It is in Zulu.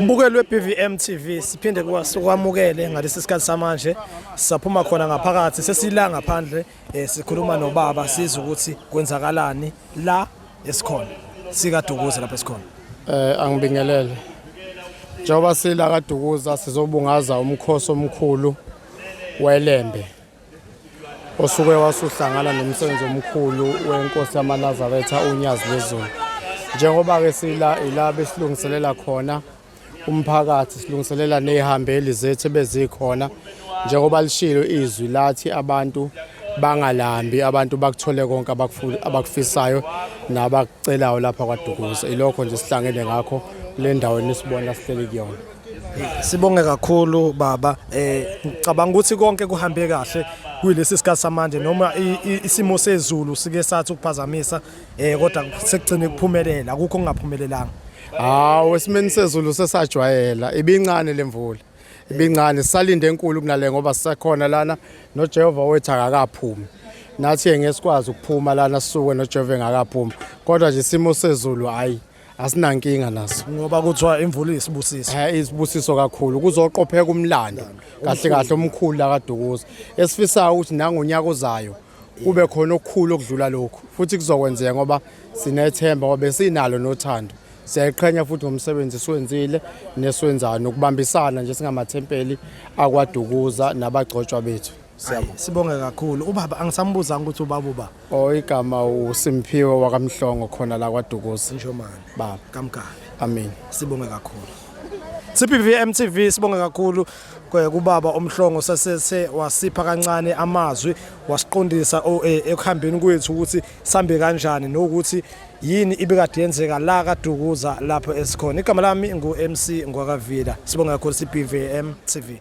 Mbukeli weBVM TV siphinde kwamukele ngalesi sikhathi samanje saphuma khona ngaphakathi sesila ngaphandle eh, sikhuluma nobaba siza ukuthi kwenzakalani la esikhona sikadukuza lapha esikhona eh angibingelele njengoba sila kadukuza sizobungaza umkhosi omkhulu welembe osuke wasuhlangana nomsebenzi omkhulu wenkosi yamanazaretha unyazi lwezulu njengoba-ke sila ila besilungiselela khona umphakathi silungiselela ney'hambeli zethu ebezikhona njengoba lishilo izwi lathi abantu bangalambi abantu bakuthole konke abakufisayo nabakucelayo lapha kwadukuza ilokho nje sihlangene ngakho kule ndawo enisibona sihleli kuyona Sibonge kakhulu baba eh ngicabanga ukuthi konke kuhambe kahle kuyilesi sikhathi samanje noma isimo sezulu sike sathi ukuphazamisa eh kodwa sekugcine kuphumelela akukho kungaphumelelanga Hawu esimeni sezulu sesajwayela ibincane lemvula ibincane sisalinde enkulu kunale ngoba sisakhona lana noJehova wethu akakaphumi nathi ngeke sikwazi ukuphuma lana sisuke noJehova engakaphumi kodwa nje isimo sezulu hayi asinankinga naso ngoba kuthiwa imvula isibusiso eh isibusiso kakhulu kuzoqopheka umlando kahle kahle omkhulu la kaDukuza esifisayo ukuthi nangonyaka ozayo kube khona okukhulu okudlula lokhu futhi kuzokwenzeka ngoba sinethemba ngoba besinalo nothando siyayiqhenya futhi ngomsebenzi esiwenzile nesiwenzayo nokubambisana nje singamathempeli akwaDukuza nabagcotshwa bethu Siyabonga. Sibonge kakhulu. Ubaba angisambuzanga ukuthi ubaba uba. Oh igama uSimphiwe wakamhlongo khona la kwaDukuza. Njomane. Baba. Kamgabe. Amen. Sibonge kakhulu. CPV MTV sibonge kakhulu kubaba omhlongo sasese wasipha kancane amazwi wasiqondisa e, ekuhambeni kwethu ukuthi sambe kanjani nokuthi yini ibikade yenzeka la kaDukuza lapho esikhona igama lami ngu MC Ngwakavila sibonga kakhulu CPVM TV